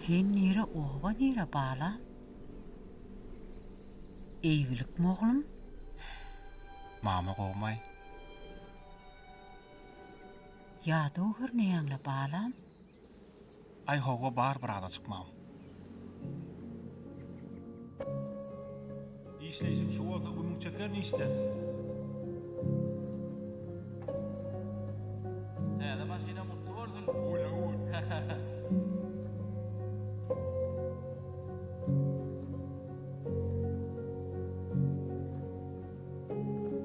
Sen nire oba nire balam? Eýgilikmi oglum? Mama gowmaý. Ýadaw görneýäňle balam? Aý howwa bar bir azajyk mam. Işleýşiň şu bolsa gümüň çeker nişden. Täze maşyna gutly bolsun. Oýa oý.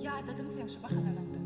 Ýadadym seň şu bahalanyňdan.